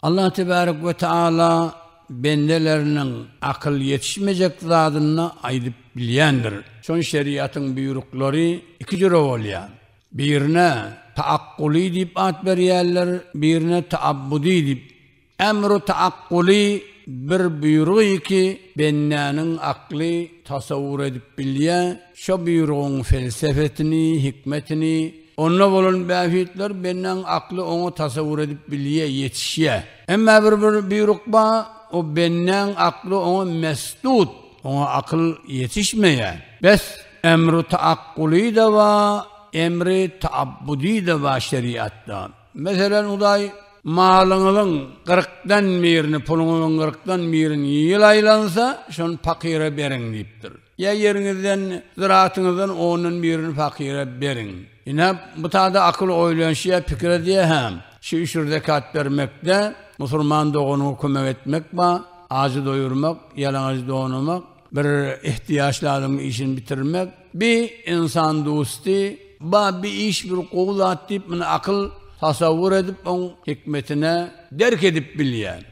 Allah tebärek we taala bendeleriniň akyl ýetişmejek zadyny aýdyp bilýändir. Şon şeriatyň buýruklary iki jüre bolýar. Birine taakkuly diýip at berýärler, birine taabbudy diýip. Emru taakkuly bir buýrugy ki, bendäniň akly tasawwur edip bilýär, şo buýrugyň felsefesini, hikmetini, Onda bolan bähbitler bendäň akly oňat tasawwur edip bilýär, ýetişýär. Emma bir buýruk bar, o bendäň akly oňa mesdut, oňa akyl ýetişmeýär. Bes, emri taakkuly-da bar, emri taabbudy-da bar şeriatda. Meselem, Hudaý, Malyňyzyň gyrkdan birini, puluňyzyň gyrkdan birini ýyl aýlansa, şony pakyra beriň diýipdir. Ýa ýeriňizden, zyratyňyzdan ondan birini pakyra beriň. Ine, bu tada akyl oýlanşy ýa pikir edýär hem, şu üç zekat bermekde, musulman doganyňa kömek etmek ba, ajy doýurmak, ýalaňaç donamak, bir ihtiýaçly adamyň işini bitirmek, bi, ynsan dusty, ba, bi iş bir gowy zat diýip, muny akyl tasawwur edip, oň hikmetine derk edip bilýär.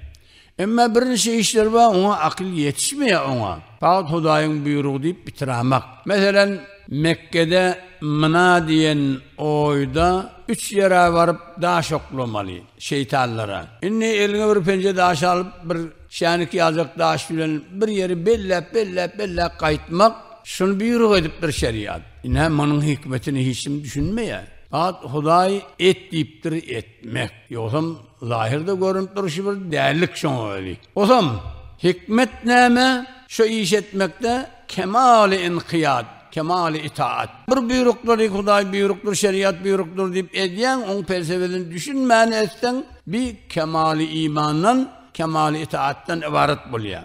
Emma bir niçe işler bar oňa akyl ýetişmeýär oňa fagt hudaýyň buýrugy diýip bitirämak. Meselen Mekgede Mina diýen oýda üç ýere baryp daş oklamaly şeýtanlara. Indi eliňe bir penje daş alyp bir şänik ýaljak daş bilen bir ýeri belläp belläp belläp gaýtmak şuny buýruk edipdir şeriýat. Ine munyň hikmetine hiç kim düşünmeýär. Fagt hudaý et diýipdir et. Mek. Ýogsam, zahyrda görünip durşy bir dällik şoňa özi. Osam, hikmet näme? Şu iş etmekde kemaly ynkyýat, kemaly itaat. Bir buýruklary Hudaý buýrukdyr, şeriat buýrukdyr diýip edýäň, oň pelsebesini düşünmän etseň, bi kemaly imandan, kemaly itaatdan ybarat bolýar.